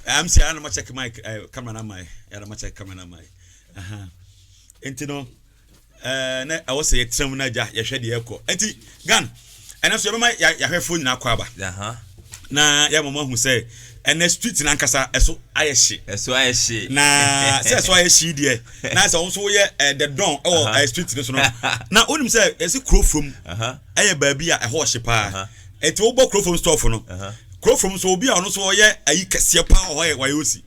I'm saying I'm check my uh, camera na my yeah I'm check camera na my uh huh enti no eh na ɛwɔ sɛ yɛtena mu na agya yɛhwɛ deɛ ɛkɔ enti gan ɛnɛ so yɛbɛma yɛahwɛfoɔ nyinaa kɔ aba na yɛma mo ahu sɛ ɛnɛ street no ankasa ɛso ayɛ hye ɛso ayɛ hye na sɛ ɛso ayɛ hye deɛ na sɛ wo nso woyɛ eh, the don ɛwɔ eh, street no so no na wonim sɛ ɛsi kuro fam yɛ baabi a ɛhɔ hye paa nti wobɔ kuro fam stɔɔfo no kuro fam nso obi a ɔno nso ɔyɛ ayi kɛseɛ paa ɔhɔ yɛ wayosi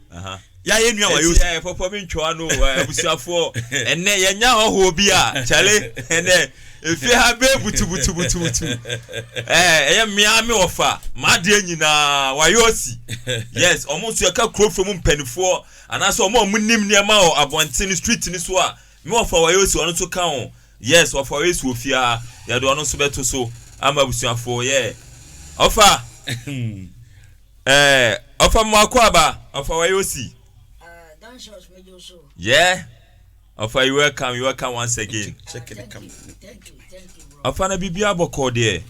yɛ yɛ nua wayosi. ɛti yɛ pɔpɔ mi ntwa no abusuafoɔ ɛnɛ yɛ nya hɔhoɔ bi a kyale ɛnɛ efie ha bɛɛ butubutubutubutu ɛɛ ɛyɛ mmea mi ɔfa m'adeɛ nyinaa wayosi yes ɔmo nso yɛka kuro fam mpanimfoɔ anaasɛ ɔmo a ɔmo nim nneɛma wɔ abɔnten street no so a mi ɔfa wayosi ɔno nso ka ho. Yes ɔfa ɔyɛ suo fie aa yɛde ɔno nso bɛto so ama abusuafoɔ yeah ɔfa eh ɔfa mmoako aba ɔfa ɔyɛ osi yeah ɔfa you welcome you welcome once again ɔfa na biribi abɔkɔɔ deɛ.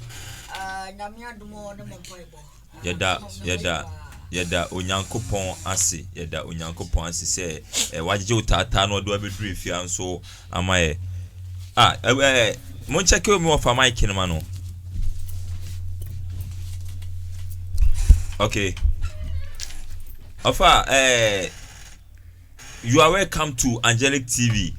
Ah, nyame adom ɔ ne mo mpaebɔ. Yɛda, yɛda, yɛda Onyankopɔn ase, yɛda Onyankopɔn ase sɛ ɛ wagyegye wo taataa na ɔde wabɛduru efie ha nso ama yɛ. Ah, ɛ ɛ mo nkyɛke omi wɔ fa mic no ma no. Okay. Ɔfa ɛɛ. You are welcome to Angelic TV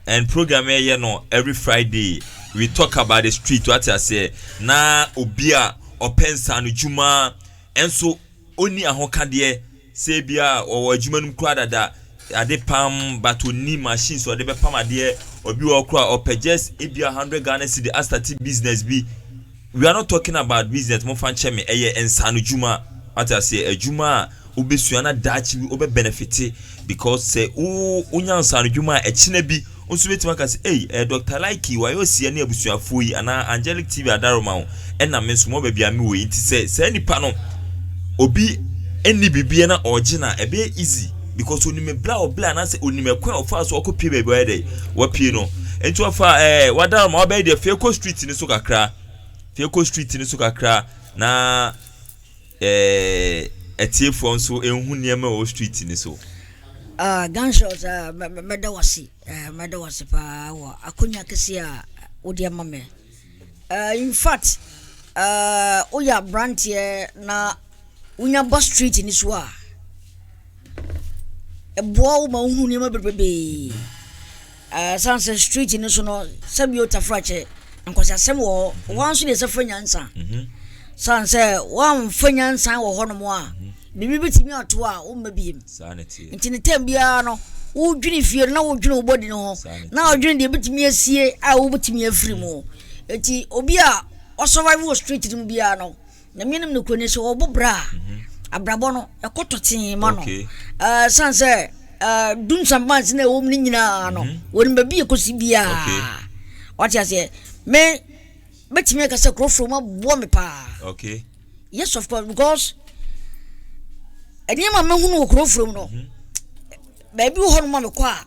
and program yɛ yɛ no every Friday we talk about the street wate aseɛ na obi a ɔpɛ nsaano dwuma ɛnso ɔni ahokadeɛ sɛ ebi a ɔwɔ adwuma no mu koraa dada ade pam but ɔni machine sɛ ɔde bɛpam adeɛ obi wɔ koraa ɔpɛ just ebi a hundred Ghana cedi asate business bi We are not talking about business momfa nkyɛ me ɛyɛ nsaano dwuma wate aseɛ adwuma a wobɛsua na daakye bi wobɛ benefite because sɛ wo wonya nsaano dwuma a ɛkyena bi nso bɛtumi aka sɛ ei eh, Dr. Likey wayɛ ɔsia ne abusuafoɔ yi anaa Angelic TV adaroma wo ɛna me nso mɔ baabi a me wɔ yi nti sɛ saa nipa no obi ɛnni biribiɛ na ɔgye na ɛbɛyɛ easy Because onim ebere a ɔbere anaasɛ onim ɛkwan a ɔfaa so ɔkɔ pie baabi ɔyɛ dɛ wapie no nti ɔfa ɛɛ eh, wadar ma ɔbɛyɛ deɛ fekɔ street ne so kakra fekɔ street ne so kakra na ɛɛ atiefoɔ nso ehu nneɛma ɛwɔ street ne so. Ah, Gunshots, ah, mɛda wase, eh, mɛda wase paa wɔ akonya kɛse a wode ama me. Eh, in fact, eh, woyɛ aberanteɛ na wonya ba street no so a, ɛboa wo ma wohu nneɛma bebrebee. Eh, san sɛ street no so no, sɛbi otafrakyɛ, nkwasiasɛm wɔ hɔ. Wɔn nso deɛ sɛ fa nyansa. Mhm. San sɛ wɔamfa nyansa wɔ hɔnom a, Biribi betumi ato wo a womma biem. Enti ne tam biara no, wodwene fie no na wodwene wo bɔdi no ho, na wodwene deɛ ebetumi asie a wobetumi afiri mu. Enti obi a ɔsurvive wɔ street no mu biara no, na menim no kuro ne sɛ ɔbɔ bra a mhm. abrabɔ no ɛkɔ tɔtee ma no. Ɛsan sɛ dum sambansi na ɛwɔ mu no nyinaa no, mhm. wɔn baabi ekosi biara. Wate aseɛ? Me Mɛtumi aka sɛ kurɔfoɔ mu aboa me paa. Okay. Yes of course because nneɛma mɛhunu wɔ kurɔfoɔ mu no mhm. baabi wɔ hɔ no ma mekɔ a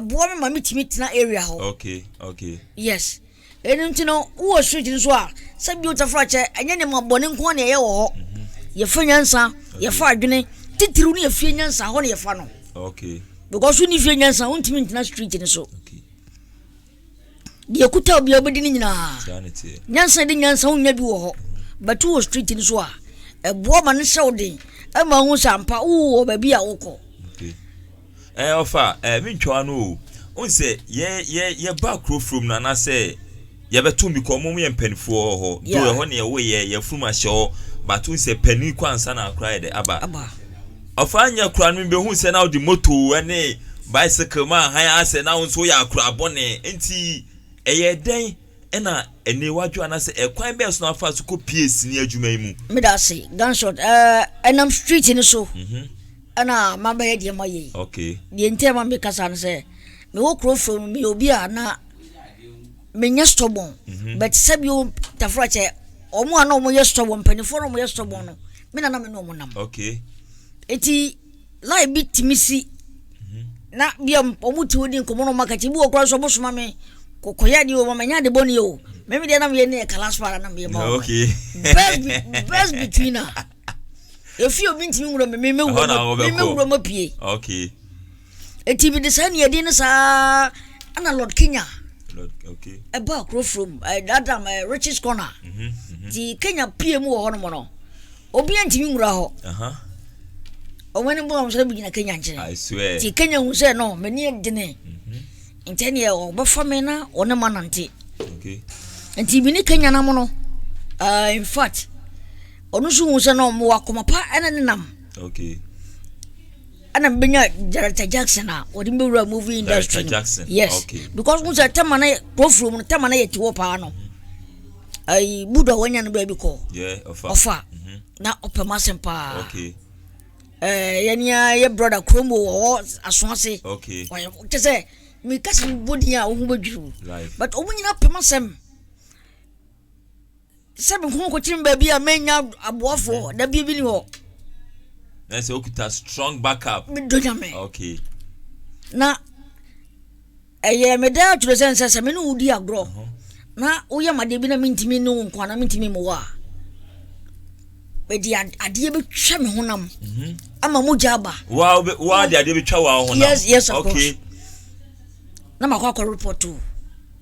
ɛboa me ma metumi tena area hɔ. Okay okay. Yes ɛnu nti no wowɔ street nso a sɛ bio tafra kyɛ ɛnyɛ ne ma bɔne nko ne ɛyɛ wɔ hɔ mhm. yɛfa nyansa yɛfa adwene titiriw ne yɛfie nyansa hɔ ne yɛfa no. Okay. Because wonni fie nyansa wontumi ntena street no so. Okay. deɛ ɛkuta obi a wobɛdi no nyinaa nyansa de nyansa wonya bi wɔ hɔ but wɔ street no so a ɛboa ma no hyɛ wo den ɛma wohu sɛ ampa wowɔ baabi a wokɔ ɛɛ ɔfa ɛɛ mentwa no o wohu sɛ yɛ yɛ yɛba kuro furom no anaasɛ yɛbɛto bi kɔ ɔmo yɛ mpanimfoɔ wɔ hɔ do ɛhɔ ne ɛwɔ yɛ yɛfurum ahyɛ hɔ but wohu sɛ panin kɔ ansa na akora yɛ dɛ aba aba Ɔfaa nyɛ koraa no mibehuu sɛ na ɔde moto ne bicycle ma hann asɛe na wo nso woyɛ akora bɔne. Enti ɛyɛɛ dɛn na aniwa dwo anaasɛ ɛkwan bɛn so na wafaa so kopiee sini adwuma yi mu? Meda ase. Gunshot ɛɛ ɛnam street no so ɛna mabɛyɛ deɛ mayɛ yi. Okay. Deɛ nti a ɛma meka saa ne sɛ mewɔ kuro fam no meyɛ obi a na. menyɛ stɔbɔn but sɛbi o tafra kyɛ wɔn a na wɔn yɛ stɔbɔn mpanimfoɔ na wɔn yɛ stɔbɔn no me na na me ne wɔn nam okay eti line bi tìmi si mhm. na bia wɔn ti odi nkɔmɔ na wɔn akɛkyɛ bi wɔ kura nso wɔn soma mi kɔkɔyɛ adeɛ o mama nya ade bɔ ne o mɛmi deɛ na mi yɛ ne yɛ kala so ara na mi yɛ ma wɔn okay best be best between a efi obi ntumi nwura mi mi mi wura mi mi wura mi pie okay. Enti mede saa nuadin no saa ara na Lord Kenya ɛbaa kuro furo mu ɛɛ dada mu ɛɛ Richie's corner ti Kenya pie mu wɔ hɔ nom no obi ntumi nwura hɔ wɔn ani bɔ wɔn sɛ gyina Kenya nkyɛn ti Kenya hu sɛ no mɛ ni ɛdini nti ɛni ɛwɔ ɔbɛfa mi na ɔne ma nante nti mi ni Kenya nam no ɛɛ in fact ɔno nso hu sɛ no mo wɔ akoma pa ɛna ne nam. Okay. ɛna mebɛnya director jackson a wɔde mbɛwura movie industry no yes okay. because wo sɛ tɛma no kurɔfurom no tɛma no yɛ tiwɔ paa no ayi budo a wanya no baabi kɔ ɔfa na ɔpɛ ma asɛm paa okay. eh, yɛnea yɛ brother kurom wɔ hɔ aso ase okay. kyɛ sɛ mekasa mebɔdin a wo ho bɛdwiriw but ɔmo nyina pɛ ma asɛm sɛ mekɔ nkɔtena baabi a mɛnya aboafoɔ da bia bi ni hɔ na sɛ wokuta strong backup medɔ nyame okay. na ɛyɛ meda atwerɛ sɛ nsɛ sɛ me ne wodi agorɔ uh -huh. na woyɛ madeɛ bi na mentumi ne wo nkoa na mentumi mewɔ a mede adeɛ bɛtwa me honam mhm. ama mogya aba woade adeɛ bɛtwa wo honam yes, yes, of okay. course na makɔ akɔ report o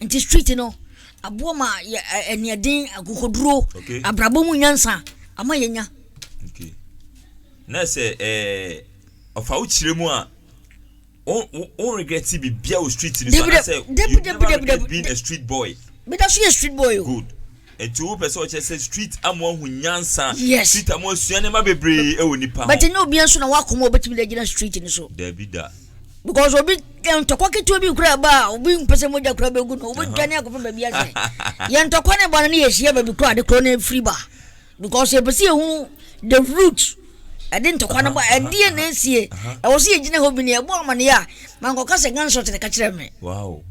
nti street no aboɔ ma yɛ ɛniɛden akokoduro abrabɔ mu nyansa ama yɛ nya. na sɛ ɛɛ ɔfa wo kyerɛ mu a wo regret bi bia wɔ street ni so anasɛ you never regret being a street boy. bida so yɛ street boy o. good Nti wo pɛ sɛ ɔkyerɛ sɛ street ama wahu nyansa yes street ama wasua nneɛma bebree ɛwɔ nipa ho. But ɛnyɛ obiara nso na wakoma obetumi de agyina street no so. Dabi da. Because obi eh, ntɔkwa ketewa bi kura ɛba a obi mpɛ sɛ mogya kura bɛgu no obi dwane akɔfa baabi asɛ yɛ ntɔkwa ne ba no ne yɛhyia baabi koro ade korɔ no afiri ba because yɛpɛ sɛ yɛhu the root ɛde ntɔkwa no ba ɛdeɛ na ɛsie ɛwɔ sɛ yɛgyina hɔ bi ne ɛbɔ amanneɛ a mankɔka sɛ gunshot ne ka kyerɛ me wow.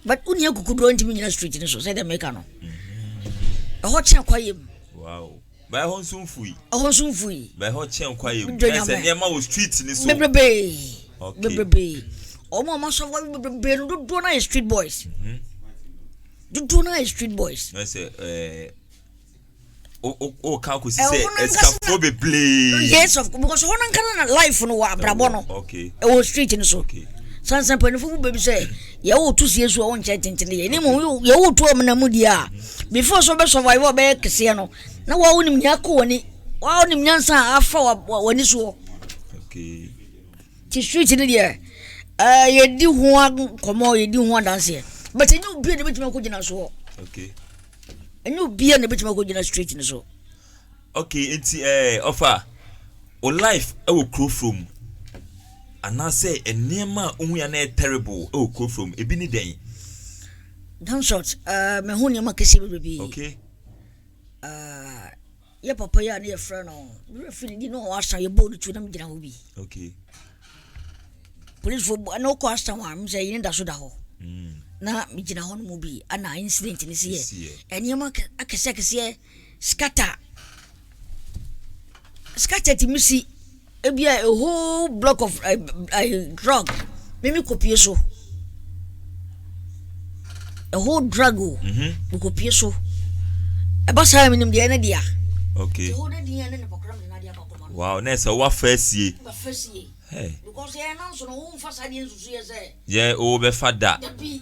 but wo nua kukuduro ntumi nyina street no so sɛ dɛ meka no mm-hmm. ɛhɔ kyɛn kwayɛ mu bɛɛ hɔ nso mfui ɛhɔ nso mfui bɛɛ hɔ kyɛn kwayɛ mu bɛɛ sɛ nneɛma wɔ street no so bebrebee bebrebee ɔmo ɔmo asɔ wɔ bebrebee no dodoɔ no ayɛ street boys mm-hmm. dodoɔ no ayɛ street boys ɛsɛ ɛɛ. Eh, woka akɔsi sɛ asikafoɔ bebree yes of because hɔ no nka no na life no wɔ abrabɔ no ɛwɔ street no so sansa mpanimfoɔ mu baabi sɛ yɛwo to sie so a wonkyɛ tentene yɛ ne mu yɛwo to amena mu deɛ a before so bɛ survive a bɛyɛ keseɛ no na woa wonim nea akɔ w'ani woa wonim nyansa a afa w'ani soɔ nti street no deɛ yɛdi ho nkɔmmɔ yɛdi ho adanseɛ but ɛnyɛ obi a ne bɛtumi akɔgyina soɔ okay Ɛnyɛ obiara na ebetumi akɔgyina street no so. Okay, nti ɛɛ eh, ɔfa o life ɛwɔ kuro foro mu anaasɛ nneɛma a ohun ya na ɛyɛ terrible ɛwɔ kuro foro mu ebi ne dɛn? Down short, ɛɛ eh, mɛ ho nneɛma kɛse bebrebe. Okay. Uh, yɛ papa yi a na yɛfrɛ no mmerɛ firi di na ɔwɔ asan yɛbɔɔ no tuo na megyina hɔ bi okay policefoɔ na wokɔ asan a m sɛ yene da so da hɔ mm. na megyina hɔ no mu bi ana incident no si yɛ ɛnneɛma akɛseɛ akɛseɛ scatter scatter tumi si Ebia a whole block of uh, uh, drug mimi kopie so a whole drug o mhm. mi kopie so ɛba saa yɛ menim deɛ ɛne dea okay wow na ɛsɛ woafa asie yɛ wobɛfa da Hey.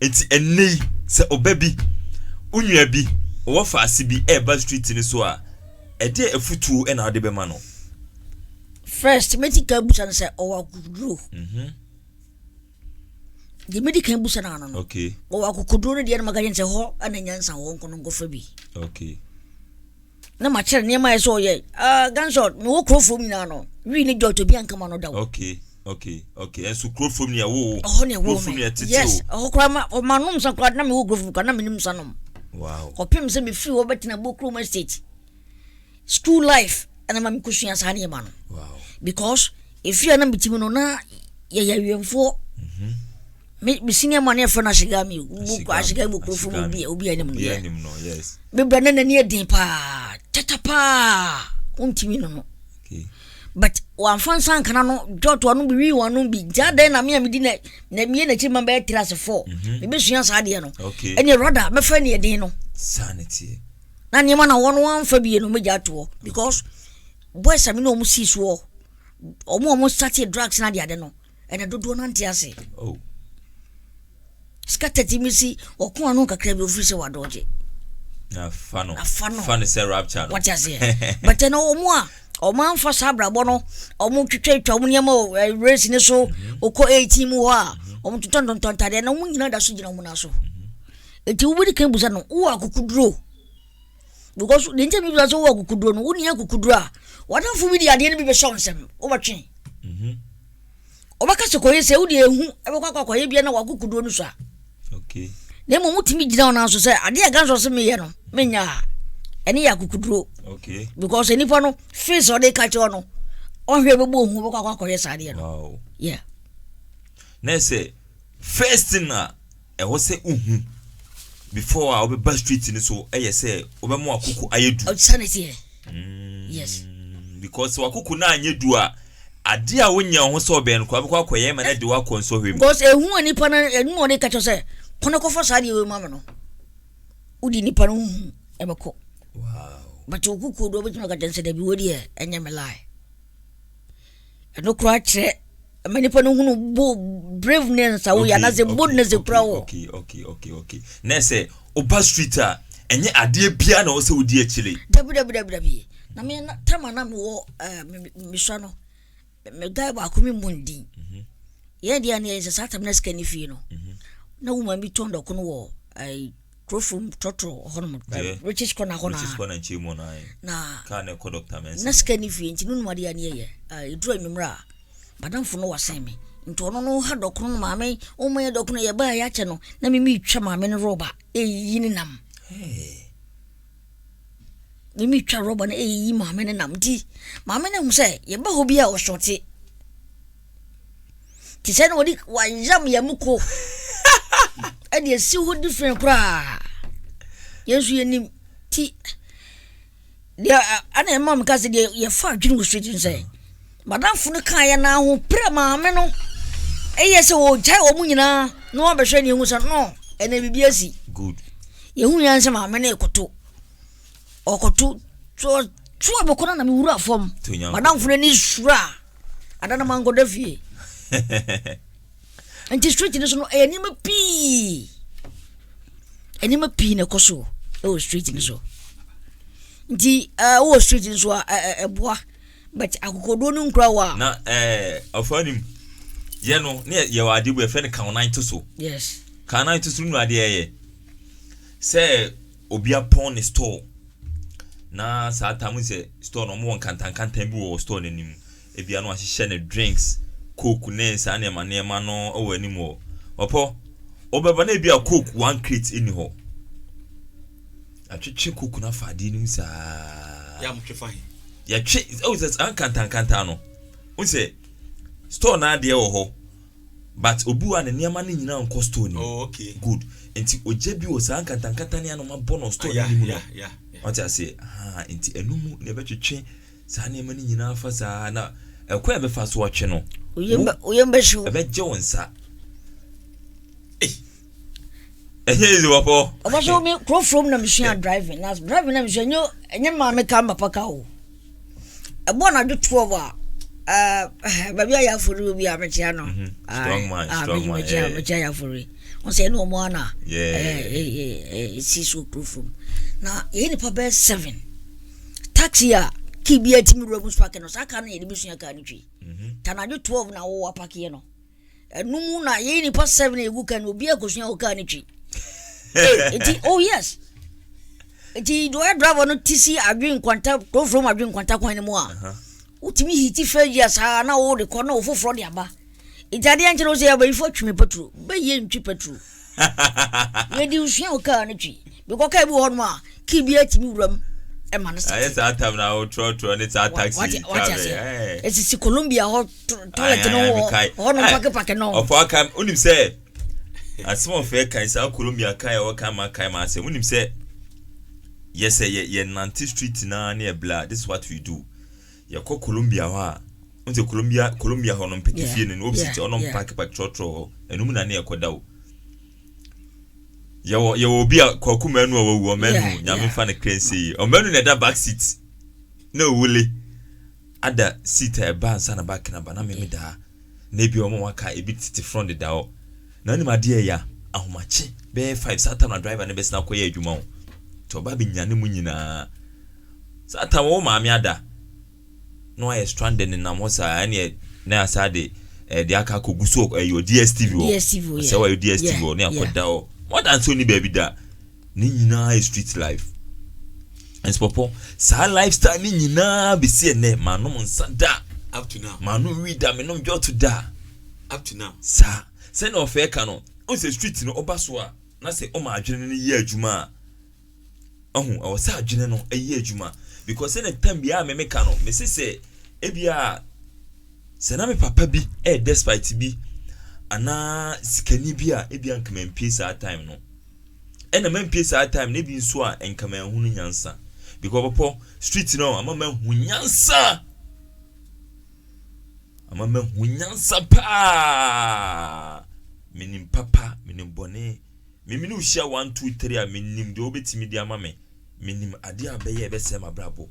Enti ɛnnɛ yi, sɛ ɔba bi, wo nua bi, ɔwɔ faase bi reba street no so a, ɛdeɛ afutuo na wode bɛma no? First, mɛti ka busa no sɛ ɔwɔ akokoduro. Mhm. Deɛ mɛdi kan busa no ano no, ɔwɔ akokoduro no deɛ no maka kyɛn sɛ hɔ na nyansa wɔ nko no nkɔfa bi. Okay. na ma kyerɛ nneɛma a ɛsɛ ɔyɛ ah, gansɔt mewɔ kurofom nyinaa no wii ne jɔt obi ankama no da o okay okay okay ɛso kurofom ne ɛwo wo ɛhɔ ne ɛwo me yes ɛhɔ koraa ma ɔma nom sa koraa na mewɔ kurofom koraa na menim sa nom wow kɔpem sɛ mefiri hɔ bɛtena bɔ kurom estate school life ɛna ma mekɔsua saa nneɛma no wow because Ɛfiri a na mete mu no na yɛyɛ awiɛmfoɔ me senior man yɛfrɛ no ahyegami ahyegami wɔ kurofo mu obi obi anim no yɛ mebra na n'ani ɛden paa tata paa wontumi no no but wɔamfa nsa nkana no dɔto ano bi wii wɔn ano bi nti adɛn na me a medi na na mie n'akyi ma bɛyɛ tiri ase fɔ mhm. mebɛsua saa adeɛ no ɛne rada mɛfa ne ɛden no na nneɛma na wɔn wɔn amfa bie no mɛgya atoɔ because Boys a me ne wɔn sii so hɔ, wɔn a wɔn started drugs na adeade no, ɛna dodoɔ no ante ase. Oh. Scattered mi si, ɔko ano kakra bi ofiri sɛ wadɔgye. Afa no. Afa no. Fa no sɛ rapture no. Wɔte aseɛ. But ɛna wɔn a wɔn anfa saa abrabɔ no, wɔn twitwatwa wɔn nneɛma wɔ eh, race ne so, ɔkɔ mm-hmm. eighteen mu hɔ a, mm-hmm. wɔn tontɔn tontɔn ntadeɛ na wɔn nyinaa da so gyina wɔn nan so. Eti mm-hmm. wobɛdi kan busa no, wowɔ akokoduro. because deɛ nti mi bisa sɛ wowɔ kukuduro no wonni akukuduro a wadanfo bi de adeɛ no bi bɛhyɛ wo nsam wobɛtwe ɔbɛka sɛ kɔyɛ sɛ wode ehu ɛbɛkɔ akɔ akɔyɛ bia na wakukuduro no so a na mmom wotumi gyina ɔnan so sɛ adeɛ a gansɔ se meyɛ no menya a ɛne yɛ akukuduro because nipa no face ɔde ka kyerɛ no ɔhwɛ bɛbɔ ohu bɛkɔ akɔ akɔyɛ saa adeɛ no yeah na sɛ first na Ɛwɔ sɛ wohu before a wobɛba street no so ɛyɛ sɛ wobɛma wakoko ayɛ du. Ɔsane teɛ. Mm, yes. Because wakoko no anyɛ du a ade a wonyɛ wo ho sɛ ɔbɛn no kora bɛkɔ akɔyɛ ma no de woakɔ nsɔhwɛ mu. Because ehu a nipa no ɛnu a ɔde ka kyerɛ sɛ kɔ na kɔfa saa deɛ wei ma me no wodi nipa no huhu ɛbɛkɔ. Wow. But okukuo do ɔbɛtumi aka kyerɛ sɛ dabi wei deɛ ɛnyɛ me lie. Ɛno koraa kyerɛ ɛma nipa no hunu bo braveness a woyɛ anaasɛ boldness kura wɔ. okay okay okay okay na ɛsɛ ɔba street a ɛnyɛ adeɛ biara na ɔsɛ odi akyire. dabi dabi dabi dabi na me na tama na mewɔ ɛɛ eh, mesua no me guy baako mi mu ndin mhm. yɛn deɛ ne yɛn sɛ saa tam na sika ne fie no mhm. na wo maame tɔn dɔko no wɔ ɛɛ. Kurofo mu tɔtɔ hɔnom British corner hɔ na British corner nkyɛn mu na na kaa na ɛkɔ Dr. Mensa na sika ni fie nti no num adeɛ aneɛ yɛ ɛduru anwummerɛ a madamfo no wasen me nti ɔno no ha dɔkono no maame ɔma yɛ dɔkono yɛ baa yɛakyɛ no na mimi twa maame no rɔba ɛyi ne nam mimi twa rɔba no ɛyi maame no nam nti maame no hu sɛ yɛba hɔ bi a ɔsɔte te sɛ na wɔde wɔayam yɛn mu ko ɛde asi hɔ different koraa yɛn nso yɛnim ti deɛ ɛna ɛma me ka sɛ deɛ yɛfa adwene wɔ street nsɛ madamfo no kaa yɛn na ahoperɛ maame no ɛyɛ sɛ wɔgyae wɔn nyinaa na wɔabɛhwɛ ne ehu sɛ no ɛna biribi asi good yɛhu yɛn sɛ maame no ekoto ɔkɔto toɔ toɔ a mekɔ no na mewura fam madamfo no ani sura a ada no mankɔda fie nti street no so no ɛyɛ nneɛma pii nneɛma pii na ɛkɔ so ɛwɔ street no so nti ɛwɔ street no so a ɛboa but akokoduo no nkura wɔ a na ɔfa nim yɛ no ne yɛwɔ adeɛ bu ɛfɛ no kawonan to so yes kawonan to so no adeɛ ɛyɛ sɛ Obi apɔn ne store na saa time no sɛ store no wɔwɔ nkantankantan bi wɔ store no anim. Ebia na wɔahyehyɛ no drinks, coke ne saa nneɛma nneɛma no wɔ anim hɔ. Ɔpɔ, wobɛba na ebia coke one crate nni hɔ. Atwetwe coke no afa adeɛ no mu saa. Yɛ a motwe fa he? Yɛtwe, ɛwɔ sɛ saa nkantankantan no, wo sɛ store no adeɛ wɔ hɔ. But obi wɔ a ne nneɛma no nyinaa nkɔ store no mu. Oh, okay. Good. Nti ogya bi wɔ saa nkantankanta ne anoma bɔ no store no anim no. Yeah, yeah, yeah. Wate aseɛ? Haa, nti ɛno mu na ɛbɛtwetwe saa nneɛma no nyinaa afa saa na ɛkwan a ɛbɛfa so atwe no, wo, ɛbɛgye wo nsa. Ei! ɛnyɛ easy wɔ hɔ. ɔba so mi kuro from na mi sua driving na driving na mi sua nye nye maame ka papa ka o ɛbɔ anadwo twelve a ɛɛ baabi a yɛ afori obi a mi kyia no strong man strong man ɛɛ mi kyia yɛ afori wɔn sɛ ɛna wɔn ana ɛɛ ɛɛ esi so kuro from na yɛ nipa bɛɛ seven taxi a kii bi a ti mi wura mu spark no saa kaa no yɛ de bi sua kaa no twi tanadwo twelve na wɔwɔ apaki yɛ no. ɛno mu na yɛyi nipa seven egu kan no obi akosua hɔ kaa ne twi eti oh yes eti deɛ ɔyɛ driver no ti si adwene nkwanta kurofuro mu adwene nkwanta kwan no mu a wotumi hiti fɛ gyi asaa na wɔde kɔ na wɔfoforɔ de aba eti adeɛ nkyɛn no sɛ abayifo atwi mi petro bɛyɛ ntwi petro. Yɛde nsua wɔ kaa no twi bɛkɔ kaa bi wɔ hɔnom a kii bi atumi wura mu ma no sɛ. Ayɛ saa tam na wotrɔtrɔ ne saa taxi kaa bɛyɛ. Ɛsisi Colombia hɔ toilet no wɔ hɔnom pakepake no. Ɔfɔ aka wonim sɛ asɛm ɔfɛ kan saa Colombia kaa ɛwɔ kan ma kan ma asɛm wonim sɛ yɛsɛ yɛ yɛ nante street na ne ɛbla this is what we do. Yɛkɔ Columbia hɔ a, n sɛ Columbia Columbia hɔ no mpɛtɛ fie no no obi sɛ ɔno mpaaki pa trɔtrɔ hɔ ɛnum na ne yɛkɔ da o. Yɛwɔ yɛwɔ obi a kwaku mɛnu a wawu ɔmɛnu nyame nfa ne kra nsie yie ɔmɛnu na ɛda back seat na owule ada seat a ɛba nsa na back na ba na mɛmi daa na ebi ɔmo waka ebi tete front deda hɔ na nim adeɛ ya ahomakye bɛyɛ five saa tam na driver ne bɛsena akɔyɛ adwuma o tɔ ɔba bi nya ne mu nyinaa. Satan wɔ wo maame ada na wayɛ stranded nenam hɔ saa ɛneɛ na yasa de eh, de aka akɔ gusu ɛyɛ eh, DSTV hɔ DSTV hɔ sɛ wayɛ DSTV hɔ ne akɔ da hɔ more than sɛ ɔni baabi da ne nyinaa yɛ street life nsopɔpɔ saa lifestyle ne nyinaa bɛsi ɛnɛ manom nsa da up to now manom wi da menom dwɔto da up to now saa sɛnea ɔfɛɛ ka no ɔn sɛ street no ɔba so a na sɛ ɔma adwene no yɛ adwuma a Wahu? Ɛwɔ sɛ adwene no yɛ adwuma. Because sɛ ne tam biara me meka no, me se sɛ ebia sɛ na me papa bi ɛyɛ despite bi anaa sikani bi a ebia nka mampie saa time no. Ɛna mampie saa time no ebi nso a nka manhu no nyansa. Because pɔpɔ street no ama mahu nyansa. Ama mahu nyansa paa. Menim papa, menim bɔne. Me me ne wo hyia one two three a mennim deɛ wobɛtumi de ama me mennim adeɛ a bɛyɛ a ɛbɛsɛe m'abrabɔ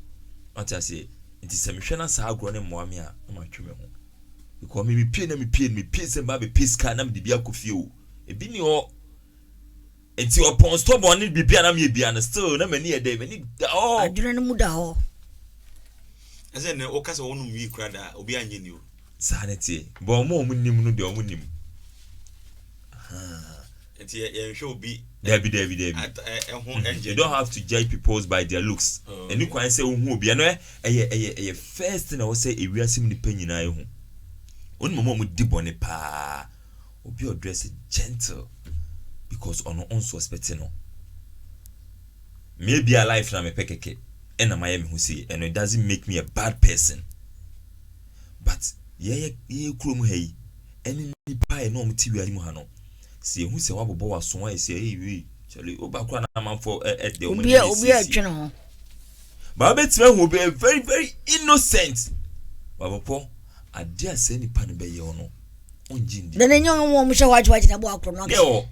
wate aseɛ nti sɛ mehwɛ na saa agorɔ no mmoa me a na matwe me ho because me mepie na mepie no mepie sɛ mmaa bɛpie sika na mede bi akɔ fie o ebi ni hɔ nti ɔpɔn stɔbɔn ne biribi a na meyɛ bia no still na m'ani yɛ dɛ m'ani da hɔ adwene no mu da hɔ ɛsɛ ne woka sɛ wɔnom wii kora daa obi anyɛ ni o Saa ne teɛ. But wɔn a wɔn nnim no deɛ wɔn nim. Ahaa. Nti yɛ yɛnhwɛ obi. Dabi dabi dabi. At ɛ ɛho ɛnjɛ. You don't have to judge people's by their looks. Oh, Ɛni kwan sɛ ohun obi ɛno ɛ ɛyɛ ɛyɛ ɛyɛ first thing na ɛwɔ sɛ ewiase mu nipa nyinaa ehu. Onim wɔn a wɔn di bɔne paa. Obi a ɔdress gentle because ɔno ɔnsuspɛte no. Me ebia life na mepɛ kɛkɛ ɛna mayɛ me ho sei ɛno it doesn't make me a bad person. but yɛyɛ yɛyɛ kurom ha yi ɛne nnipa a ɛne wɔn te wiase mu ha no sɛ yɛhu sɛ wabobɔ w'aso ayɛ sɛ ɛyɛ wei kyɛle woba koraa na amanfoɔ ɛdɛ wɔn ani yɛ siesie obi a ho baa bɛtumi ahu obi very very innocent babɔpɔ adeɛ a saa nipa no bɛyɛ no ɔngye ndi dɛn nyɛ wɔn wɔn hyɛ hɔ akyɛ wakyɛ sɛ aboa korɔ no ɔkɛ